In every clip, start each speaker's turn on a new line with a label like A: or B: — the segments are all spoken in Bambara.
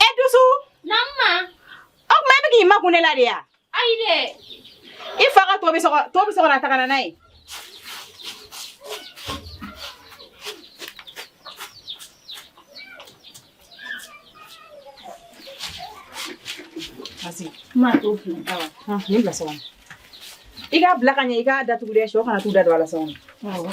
A: E dusu naamu o tuma e bɛ k'i makun ne la de
B: ya i
A: fa ka to bɛ so kɔnɔ a ta ka na n'a ye i k'a bila ka ɲɛ i k'a datugu dɛ shɛw kana t'u da don a la sɔgɔma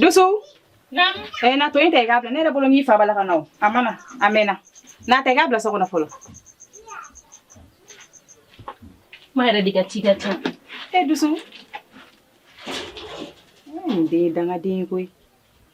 A: Dusu. Naamu.
B: Eh, na to in ta i k'a
A: bila ne yɛrɛ bolo n'i fa b'a la ka na o a mana a mɛnna n'a ta i k'a bila so kɔnɔ fɔlɔ.
B: Ma yɛrɛ de ka ci ka ca. E dusu.
A: N den dangaden ye koyi.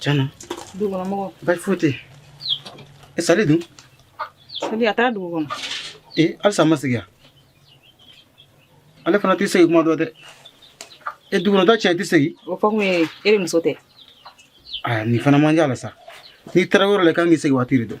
C: Tiɲɛna dugu kɔnɔ mɔgɔ baasi
A: foyi tɛ
C: yen sali dun sali a
A: taara dugu kɔnɔ ee halisa a
C: ma segin yan ale fana tɛ segin kuma dɔn dɛ e dugu kɔnɔ ta tiɲɛ tɛ segin o fɔ kun ye e de
A: muso tɛ aa
C: nin fana man di a la sa n'i taara yɔrɔ la i kan k'i segin waati de dɔn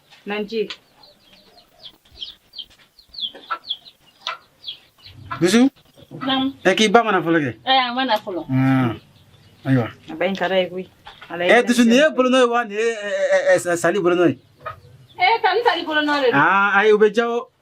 A: Nanji.
C: Dusu? Naam.
B: Eh, k'i ba ma na fɔlɔ
C: kɛ? Eh, a ma na fɔlɔ. Ah. Ayiwa. A ba in ka d'a ye
A: koyi. Eh, dusu nin
C: ye bolonɔ ye wa nin ye eh, eh, eh, sali bolonɔ ye? Eh, ka n
B: sali bolonɔ de don. Ah, ayi o bɛ diya o.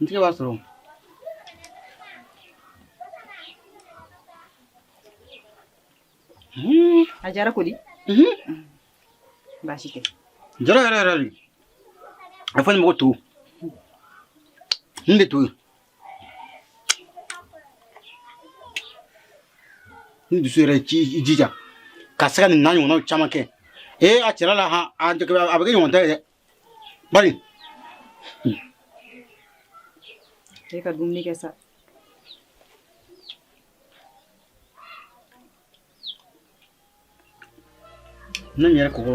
C: n tɛ b'a
A: sɔrɔ a diyara ko di baasi tɛ diyara yɛrɛ yɛrɛ de
C: a fɔ ni mɔgɔ to n de to yen ni dusu yɛrɛ k'i jija ka se ka nin n'a ɲɔgɔnnaw caman kɛ ee a cɛla la han a bɛ kɛ ɲɔgɔn ta ye dɛ
A: Bari. E ka dumuni kɛ
C: sa. Ne yɛrɛ kɔngɔ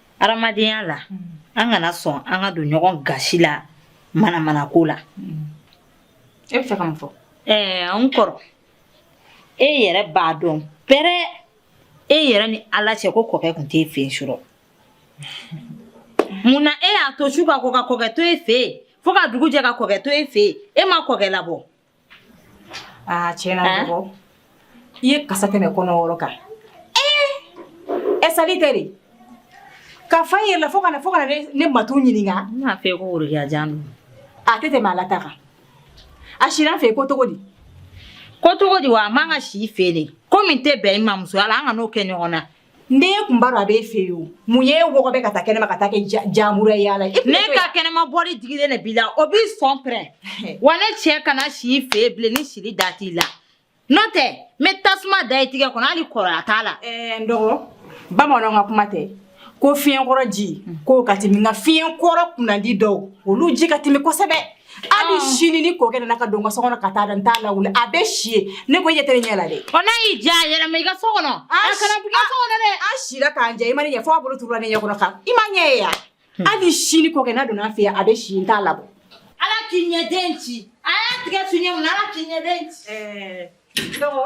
B: Adamadenya la an kana sɔn an ka don ɲɔgɔn gasi la manamana ko
A: la e bɛ fɛ ka mun fɔ ɛɛ n kɔrɔ
B: e yɛrɛ b'a dɔn pɛrɛ e yɛrɛ ni ala cɛ ko kɔkɛ tun t'e fɛ yen surɔ mun na e y'a to su ka ko ka kɔkɛ to e fɛ yen fo ka dugu jɛ ka kɔkɛ to e fɛ e ma kɔkɛ labɔ
A: aa tiɲɛna n dɔgɔ i ye kasa tɛmɛ kɔnɔ wɔɔrɔ kan ɛ sali tɛ de ka fa yɛrɛ la fo ka na fo ka na ne ne matu ɲininka n b'a fɛ ko
B: worokiya jan don a tɛ tɛmɛ
A: ala ta kan a sira n fɛ ko cogo di ko cogo
B: di wa a man ka si n fɛ de ko min tɛ bɛn i ma musoya la an kan'o kɛ ɲɔgɔn na N tun b'a dɔn
A: a b'e fɛ yen o mun ye mɔgɔ bɛ ka taa kɛnɛma ka taa kɛ jamuru yaala la ne ka kɛnɛma
B: bɔli digilen de b'i la o b'i sɔn pɛrɛn wa ne cɛ kana si i fɛ bilen ni sili da t'i la n'o tɛ n bɛ tasuma da i tigɛ kɔnɔ hali kɔrɔya t'a la n
A: dɔgɔ bamanan ka kuma tɛ ko fiɲɛkɔrɔ ji k'o ka timi nka fiɲɛ kɔrɔ kunnandi dɔw olu ji ka timi kosɛbɛ hali ah. sini ni kɔkɛ nana ka don n ka so kɔnɔ ka taa da n t'a lawuli a bɛ si yen ne ko i ɲɛ tɛ ne ɲɛ la dɛ. ɔ n'a y'i diya a yɛlɛma i
B: ka so kɔnɔ. a kana b'i ka so kɔnɔ dɛ. a sira k'an jɛ i ma
A: ne ɲɛ fo a bolo turula ne ɲɛ kɔnɔ kan i ma ɲɛ ye yan hmm. hali sini kɔkɛ n'a donna an fɛ yan a bɛ si n t'a labɔ. ala k'i
B: ɲɛden ci a y'a tigi suɲɛ mun na ala k'i ɲɛden ci. ɛɛ dɔgɔ.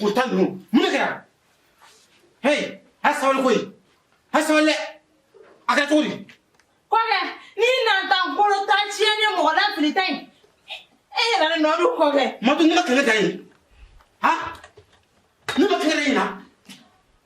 C: Ko tan ninnu mun de kɛra h a ye sabali koyi a ye sabali a kɛra cogo di
B: kɔkɛ n'i na taa bolo tan tiɲɛ ni mɔgɔ lafili tan e yɛrɛ nɔ don kɔkɛ madu ne ma kɛlɛ da
C: yen a ne ma kɛlɛ da yen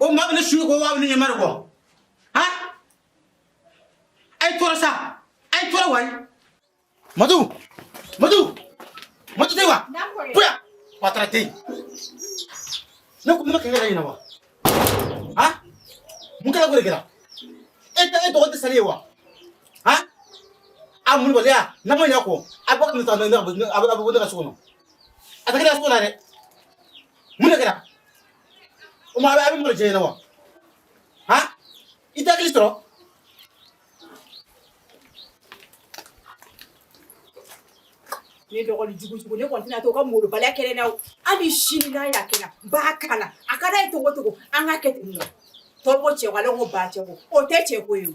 C: o ma a bɛ ne suɲɛ ko waa bɛ ne ɲɛma de kɔ han a ye tɔɔrɔ sa a ye tɔɔrɔ wayi madu madu madu tɛ wa boya wa taara tɛ yen ne ko ne ma kɛ ne yɛrɛ ɲɛna wa han mun kɛra ko de kɛra e tɛ e dɔgɔ tɛ sali ye wa han a mun baliya n'a ma ɲɛ kɔ a bɛ ka nin ta ne ka a bɛ bɔ ne ka so kɔnɔ a tɛ kɛ ne ka so kɔnɔ dɛ mun de kɛra o ma a bɛ a bɛ mɔgɔ jɛ ɲɛna wa han i tɛ hakili sɔrɔ
A: ne dɔgɔnin jugu jugu ne kɔni tɛna to ka molobaliya kɛ ne na o hali sini n'a y'a kɛ n na n b'a k'a la a ka d'a ye cogo o cogo an k'a kɛ ten nɔ tɔw ko cɛ ko ale ko ba cɛ ko o tɛ cɛ ko ye o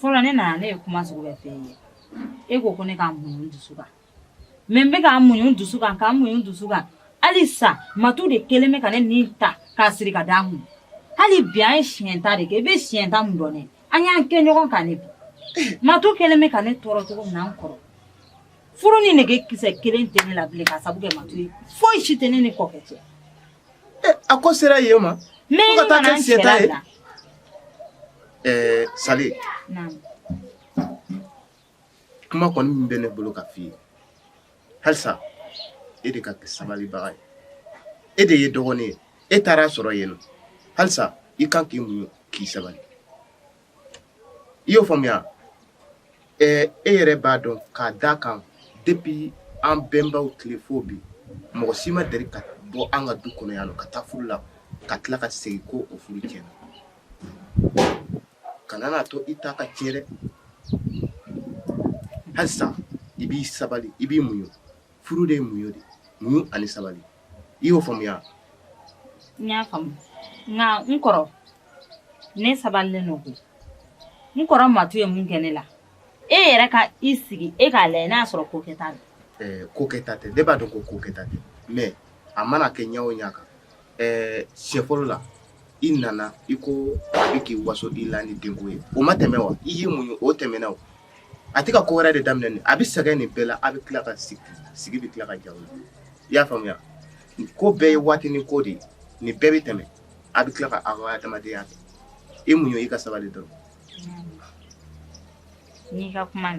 B: fɔlɔ ne nana ne ye kuma sugu bɛɛ f'e ye e ko ko ne ka muɲu n dusu kan mɛ n bɛ ka muɲu n dusu kan ka muɲu n dusu kan hali sa matu de kelen bɛ ka ne ni ta k'a siri ka d'a kun hali bi an ye siɲɛ ta de kɛ i bɛ siɲɛ ta mun dɔn ne an y'an kɛ ɲɔgɔn kan ne bi matu kelen bɛ ka ne tɔɔrɔ cogo min na n kɔrɔ furu ni nege kisɛ kelen tɛ ne la bilen k'a sabu kɛ matu ye foyi si tɛ ne ni kɔkɛ cɛ
D: A ko sera yen o ma ka taa
B: kɛ siɲɛta ye ɛɛ
D: sali kuma kɔni min bɛ ne bolo ka fɔ i ye halisa e de ka kɛ sabalibaga ye e de ye dɔgɔnin ye e taar'a sɔrɔ yen nɔ halisa i kan k'i muɲu k'i sabali i y'o faamuya e yɛrɛ b'a dɔn k'a d'a kan depuis an bɛnbaw tile fo bi mɔgɔ si ma deli ka bɔ an ka du kɔnɔ yan ka taa furu la ka tila ka segin ko o furu tiɲɛna kana n'a to i ta ka tiɲɛ dɛ halisa i b'i sabali i b'i muɲ furu de ye muɲu de ye, muɲu ani sabali, i y'o faamuya wa? N
B: y'a faamu nka n kɔrɔ ne sabalilen don koyi, n kɔrɔ matu ye min kɛ ne la, e yɛrɛ ka i sigi e k'a lajɛ n'a y'a sɔrɔ ko kɛta don, ɛɛ
D: ko kɛta tɛ, ne b'a dɔn
B: ko
D: ko kɛta tɛ mais a mana kɛ
B: ɲɛ
D: o ɲɛ kan Ɛɛ siɲɛ fɔlɔ la i nana i ko a bɛ k'i waso i la ni denko ye o ma tɛmɛ wa i y'i muɲu o tɛmɛna o a tɛ ka ko wɛrɛ de daminɛ nin a bɛ sɛgɛn nin bɛɛ la a bɛ tila ka sigi a bɛ tila ka ja i y'a faamuya ko bɛɛ ye waatinin ko de ye nin bɛɛ bɛ tɛmɛ a bɛ tila ka a adamadenya kɛ i muɲu i ka sabali dɔrɔn
B: n'i ka kuma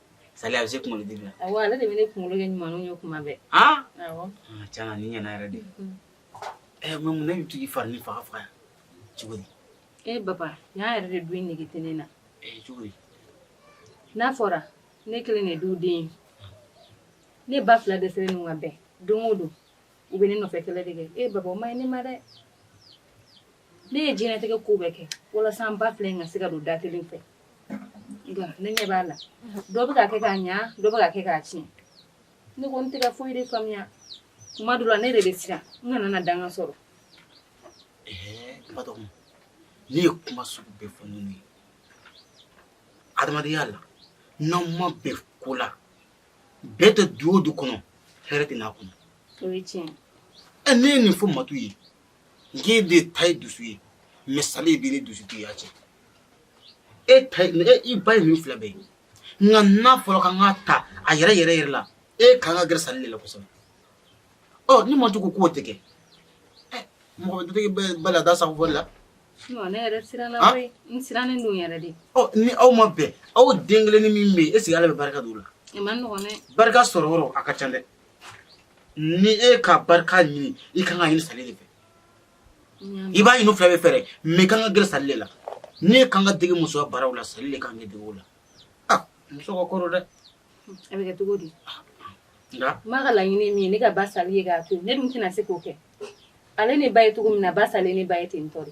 E: sali a bɛ se kunkolo digi la ale de bɛ ne kunkolo
F: kɛ ɲuman ye tuma bɛɛ tiɲɛ na nin
E: ɲɛna yɛrɛ de ɛ mais mun na e bɛ to k'i fari nin faga faga cogo e baba yan yɛrɛ
F: de du in nege tɛ ne na
E: cogo di
F: n'a fɔra ne kelen de du den ne ba fila dɛsɛlen don ka bɛn don o don u bɛ ne nɔfɛ kɛlɛ de kɛ e baba o man ɲi ne ma dɛ ne ye diɲɛnatigɛ ko bɛɛ kɛ walasa n ba fila in ka se ka don da kelen fɛ nka ne ɲɛ b'a la dɔ bɛ ka kɛ k'a ɲa dɔ bɛ ka kɛ k'a tiɲɛ ne kɔni tɛ ka foyi de faamuya tuma dɔ la ne de bɛ siran n kana na danga sɔrɔ
E: batɔgɔma ne ye kuma sugu bɛɛ fɔ ninnu ye adamadenya la n'aw ma bɛn ko la bɛn tɛ du o du kɔnɔ hɛrɛ tɛ n'a kɔnɔ o ye tiɲɛ
F: ye ne ye nin
E: fɔ matu ye N k'e de ta ye dusu ye mais sali bɛ ne dusu tiɲɛ cɛ e i ba ye min fila bɛɛ ye nka n'a fɔra k'an k'a ta a yɛrɛ yɛrɛ yɛrɛ la e kan ka gɛrɛ sali de la kosɛbɛ ɔ ni matu ko k'o tɛ kɛ mɔgɔ bala da sago
F: la ni aw ma bɛn
E: aw den kelennin min bɛ yen est-ce que ala bɛ barika don o la barika
F: sɔrɔyɔrɔ ka
E: ca dɛ ni e ka barika ɲini i kan ka ɲini sali de fɛ i b'a ɲini u fila bɛɛ fɛ dɛ mais i kan ka gɛrɛ sali de la ni e kan ka dege musoya baaraw la sali de kan k'i dege o la ah muso ka kɔrɔ dɛ a bɛ
F: kɛ cogo di nka
E: n ba ka laɲini ye
F: min ye ne ka ba sali ye k'a to ne dun tɛna se k'o kɛ ale ne ba ye cogo min na ba sali ne ba ye ten tɔ de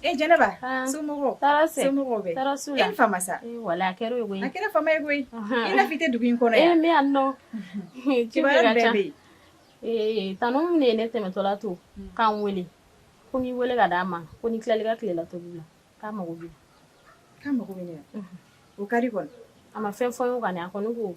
A: E
G: jɛnɛba so
A: wala a kɛra koyi a kɛra
G: fa ye koyi
A: i tɛ dugu in
G: kɔnɔ e
A: ne yan nɔ
G: ci
A: bɛ yen tan ne ye ne
G: tɛmɛtɔla to k'an weele ko n'i weele ka d di'a ma ko ni tilali ka tilela to la k'a mago bɛ mako
A: o kari a ma fɛn fɔ ye ka
G: a ko ne ko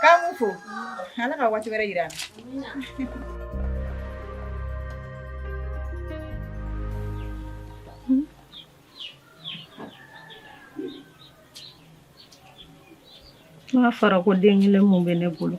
A: K'an b'u fo Ala ka waati wɛrɛ yira
H: an na n'a fɔra ko den kelen min bɛ ne bolo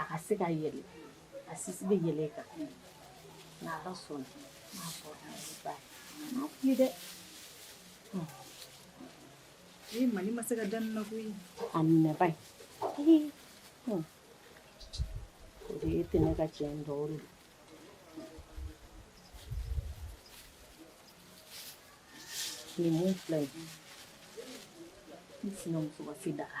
H: a ka se ka yɛlɛ a sisi bɛ yɛlɛ i kan n'ala sɔnna ye dɛ
A: ee ma ne ma se ka da nin na koyi a minɛba
H: ye o de ye tɛ ne ka cɛ in dɔw de nin mun filɛ ye n sinamuso ka se daga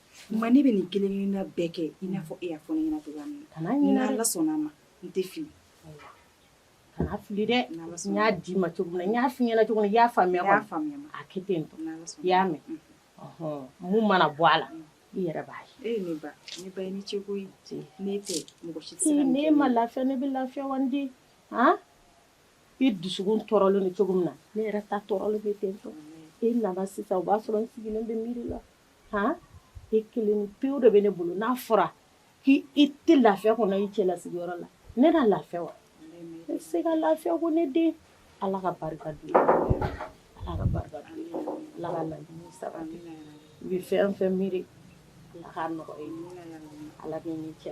H: Ma ne bɛ
A: nin kelen na bɛɛ kɛ i n'a fɔ e y'a fɔ ne ɲɛna cogoya min na kana ɲinɛ dɛ ni Ala
H: sɔnna a ma
A: n tɛ
H: fili kana fili dɛ n y'a d'i ma
A: cogo
H: min
A: na n y'a
H: f'i ɲɛna cogo min na i y'a faamuya kɔni a
A: kɛ ten
H: tɔ i y'a
A: mɛn
H: mun mana bɔ a la i yɛrɛ b'a ye e ne ba ne
A: ba i ni ce koyi n'e
H: tɛ
A: mɔgɔ si tɛ se ka nin kɛ ne ye n'e ma lafiya ne bɛ lafiya wa
H: n den han i dusukun tɔɔrɔlen don cogo min na ne yɛrɛ ta tɔɔrɔlen bɛ ten tɔ e nana sisan o b'a sɔrɔ n sigilen bɛ miiri la h e kelen pewu de bɛ ne bolo n'a fɔra k'i tɛ lafiya kɔnɔ i cɛla sigiyɔrɔ la ne na lafiya wa ne tɛ se ka lafiya ko ne den ala ka barika don ala ka barika don ala ka laɲini sabati i bɛ fɛn o fɛn miiri ala k'a nɔgɔya ala cɛ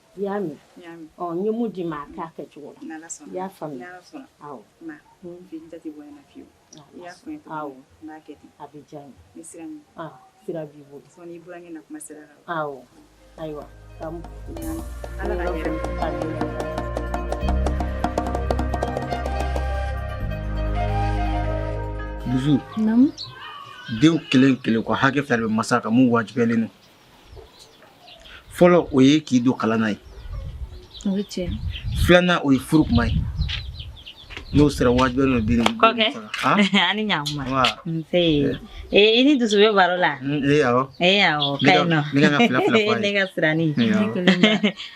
H: i y'a mɛn
B: n ye mun d'i ma
H: a k'a kɛ cogo la i
B: y'a faamuya a
H: bɛ
B: diya
H: ye
B: sira b'i
H: bolo
B: ayiwa
E: dusu
F: denw
E: kelen kelen ko hakɛ fila bɛ masa kan mun wajibiyalen fɔlɔ o ye k'i don kalan na ye
F: filanan o ye
E: furu kuma ye n'o sera wajibi n'o bi kɔkɛ ani
B: ɲakuma nse i ni dusu bɛ baro la ee awɔ ee awɔ
E: ka ɲi nɔ
B: ne ka fila fila fɔ a ye
E: ne ka sirani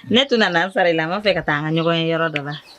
B: ne tun nana n sara i la n b'a fɛ ka taa an ka ɲɔgɔn ye yɔrɔ dɔ la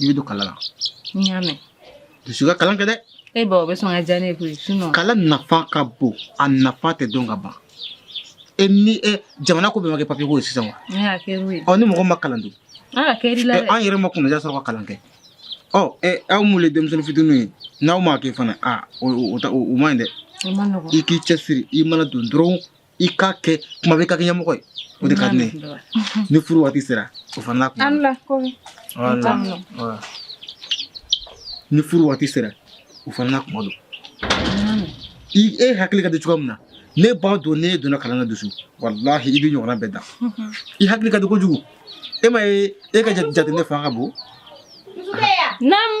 E: i bɛ don kalan na n
F: y'a mɛn dusu ka
E: kalan kɛ dɛ e ba o bɛ sɔn ka
F: diya ne ye koyi sinɔn kalan nafa ka
E: bon a nafa tɛ dɔn ka ban e ni e jamana ko bɛɛ ma kɛ papiye ko ye sisan wa ne y'a kɛ n'o ye
F: ɔ ni mɔgɔ ma kalan
E: dun an ka kɛri la ɛ,
F: dɛ an yɛrɛ ma kunnaja sɔrɔ
E: ka kalan kɛ ɔ ɛ, aw mun ye denmisɛnnin fitininw ye n'aw m'a kɛ fana a o- o o ta- o- o man ɲi dɛ o man nɔgɔn i k'i
F: cɛsiri i
E: mana don dɔrɔn i k'a kɛ kuma bɛɛ i ka kɛ ɲɛmɔgɔ ye o de ka di ne ye ni furu waati sera o fana n'a kuma an la
F: ko Voilà. Voilà.
E: ni furu waati sera o fana n'a kuma don i e hakili ka di cogoya min na ne b'a dɔn n'e donna kalan na dusu walahi i b'i ɲɔgɔnna bɛɛ dan i hakili ka di kojugu e m'a ye e ka jateminɛ fanga ka bon
F: Naamu.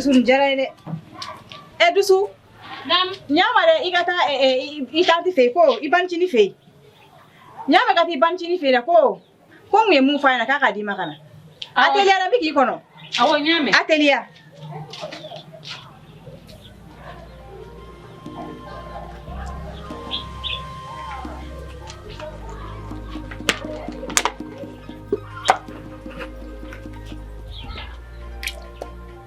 A: dusu diyara ye dɛ ɛ eh, dusu
F: ɲama dɛ i ka
A: taa eh, eh, i tanti fɛ yen ko i banicini fɛ yen ɲama ka taa i banicini fɛ yen dɛ ko ko n ye min fɔ a ɲɛna k'a k'a d'i ma ka na a teliya n bi k'i kɔnɔ awɔ n y'a mɛn
F: a teliya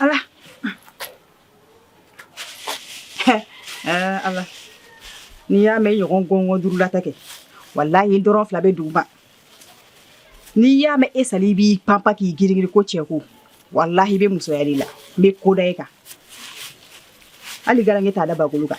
A: Allah. ala n'i y'a mɛn ɲɔgɔn gɔngɔn duurulata kɛ walayi i ntɔrɔn fila bɛ dugu ma n'i y'a mɛn e sali i b'i panpa k'i girigiri ko cɛko walahi i bɛ musoya de la n bɛ ko da e kan hali garankɛ t'a da bagolo kan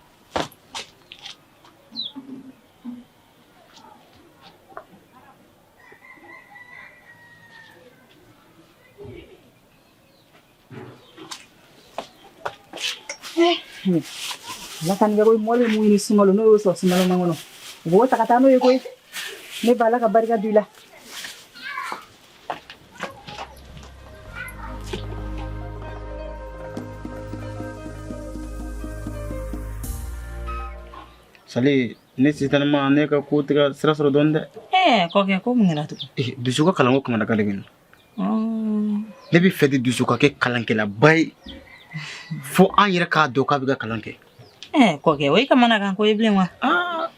A: Laka nigɛ ko mɔli mun ni sumalo n'o y'o sɔrɔ sumalo man kɔnɔ u b'o ta ka taa n'o ye koyi ne ba ala ka barika d'i la
E: sali ne sitanima ne ka ko tigɛ sira sɔrɔ dɔɔni dɛ ɛɛ kɔkɛ
B: ko mun kɛra tugun Eh, dusu ka
E: kalanko kamanagan de bɛ n na ne b'a fɛ de dusu ka kɛ kalankɛlaba ye fo an yɛrɛ k'a dɔn k'a bɛ ka kalan kɛ ɛɛ kɔkɛ o ye
B: kamanagan ko ye bilen wa aa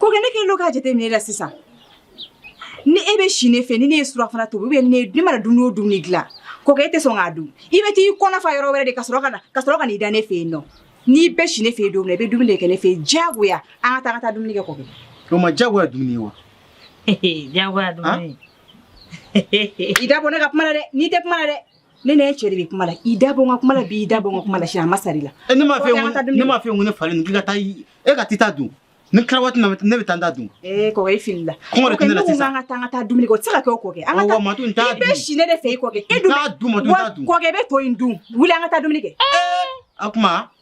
A: Kɔkɛ ne kɛlen don k'a jateminɛ la sisan ni e bɛ si ne fɛ ni ne ye surafana tobi ne mana dumuni o dumuni dilan kɔkɛ e tɛ sɔn k'a dun i bɛ taa i kɔnɔ fa yɔrɔ wɛrɛ de ka sɔrɔ ka na i da ne fɛ yen ɔ n'i bɛ si ne fɛ yen don i bɛ dumuni de kɛ ne fɛ yen diyagoya an ka taa an ka taa dumuni kɛ kɔkɛ o ma jagoya dumuni
E: ye wa
B: jagoya
A: i da bɔ ne ka kuma la dɛ n'i tɛ kuma la dɛ ne ne cɛ de bɛ kuma la i da bɔ n ka kuma la bi i da bɔ n ka kuma la sini a ma sari la ne m'a fɔ
E: ne m'a fɔ n ko ne falen k'i ka taa e ka t'i ta dun n'i tila waati na ne bɛ taa n ta dun ee kɔkɛ i fili
A: la kɔngɔ de tɛ ne la sisan an
E: ka taa an ka taa dumuni kɛ o tɛ
A: se ka kɛ o kɔkɛ an ka taa matu n t'a dun i bɛ si
E: ne de fɛ i kɔkɛ
A: e dun t'a dun matu n t'a dun
E: kɔkɛ i bɛ to in dun
A: wuli an ka taa dumuni kɛ a kuma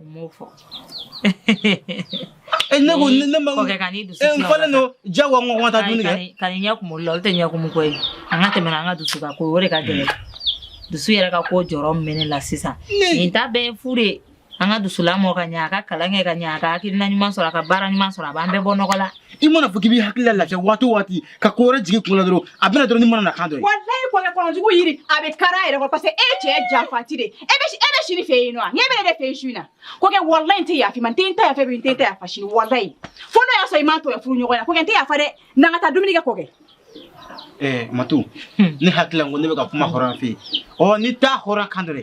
E: U m'o fɔ e ne ko ne ma kɔkɛ ka ni dusu e
B: n falen don
E: jagoya n ko n ka taa dumuni kɛ kan'i ɲɛ kumu la olu tɛ
B: ɲɛ kumu ko ye an ka tɛmɛ an ka dusu ka ko o de ka gɛlɛn dusu yɛrɛ ka ko jɔrɔ min bɛ ne la sisan nin ta bɛɛ ye fu de ye an ka dusu lamɔ ka ɲɛ a ka kalan kɛ ka ɲɛ a ka hakilina ɲuman sɔrɔ a ka baara ɲuman sɔrɔ a b'an bɛɛ bɔ nɔgɔ la i mana fɔ k'i b'i hakili
E: la lafiya waati o waati ka ko wɛrɛ jigin kun na dɔrɔn a bɛna dɔrɔn ni mana na kan dɔ ye walayi kɔkɛ
A: kɔnɔjugu yiri a bɛ kari a yɛrɛ kɔrɔ parce que e cɛ janfanci de e bɛ e bɛ si ne fɛ yen nɔ ɲɛ bɛ ne de fɛ yen su in na kɔkɛ walayi n tɛ yafa i ma n tɛ n ta yafa bi n tɛ n ta yafa sini walayi fo n'o y'a sɔrɔ i m'a tɔya furu ɲɔgɔn na kɔkɛ n tɛ yafa dɛ na an ka taa dumuni kɛ kɔkɛ ɛɛ
E: matu ne hakili la n ko ne bɛ ka kuma hɔrɔn fɛ yen ɔ ni t'a hɔrɔn kan dɔ dɛ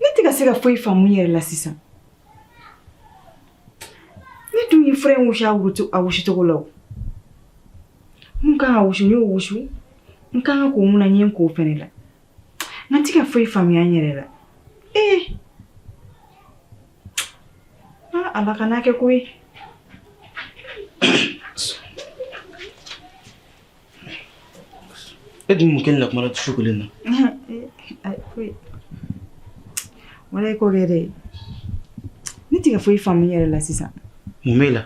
A: ne tɛ ka se ka foyi faamu n yɛrɛ la sisan ne dun ye fura in wusu a wusucogo la o n kan ka wusu n y'o wusu n kan ka ko min na n ye n ko o fɛnɛ la n tɛ ka foyi faamuya n yɛrɛ la ee ala kan'a kɛ ko ye
E: E dun mun kɛlen na kuma la su kelen
A: na walayi kɔkɛ dɛ ne tɛ ka foyi faamu n yɛrɛ la sisan mun b'e la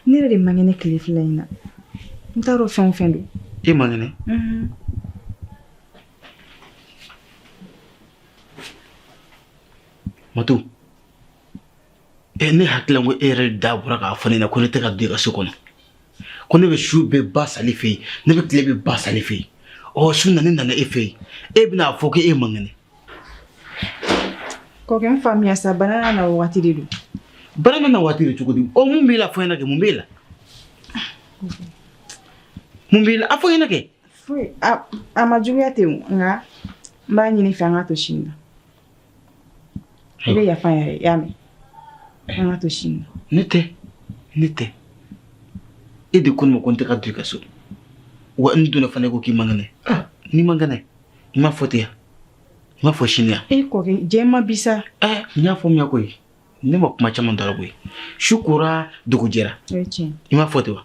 A: ne yɛrɛ de man kɛnɛ tile fila in na n t'a dɔn fɛn o fɛn don e man
E: kɛnɛ matu ɛ ne hakili la ko e yɛrɛ de da bɔra k'a fɔ ne ɲɛna ko ne tɛ ka don i ka so kɔnɔ ko ne bɛ su bɛɛ ba sali fɛ yen ne bɛ tile bɛɛ ba sali fɛ yen ɔ su na ne nana e fɛ yen e bɛna a fɔ ko e man kɛnɛ
A: kɔkɛ n faamuya sa bana na wagati de don bana bɛ na
E: waati de cogo di ɔ mun b'i la a fɔ n ɲɛna kɛ mun b'i la mun b'i la a fɔ n ɲɛna kɛ foyi
A: a a ma juguya ten o nka n b'a ɲini i fɛ an k'a to sini na i bɛ yafa yɛrɛ y'a mɛn an k'a to sini ne tɛ ne tɛ e
E: de ko n ma ko n tɛ ka don i ka so wa n donna fana ko k'i man kɛnɛ ah. n'i man kɛnɛ i m'a fɔ ten yan i m'a fɔ sini yan e kɔkɛ jɛ ma
A: bisa eh, n y'a faamuya
E: koyi ne ma kuma caman dara koyi su kora dugu jɛra i m'a fɔ ten wa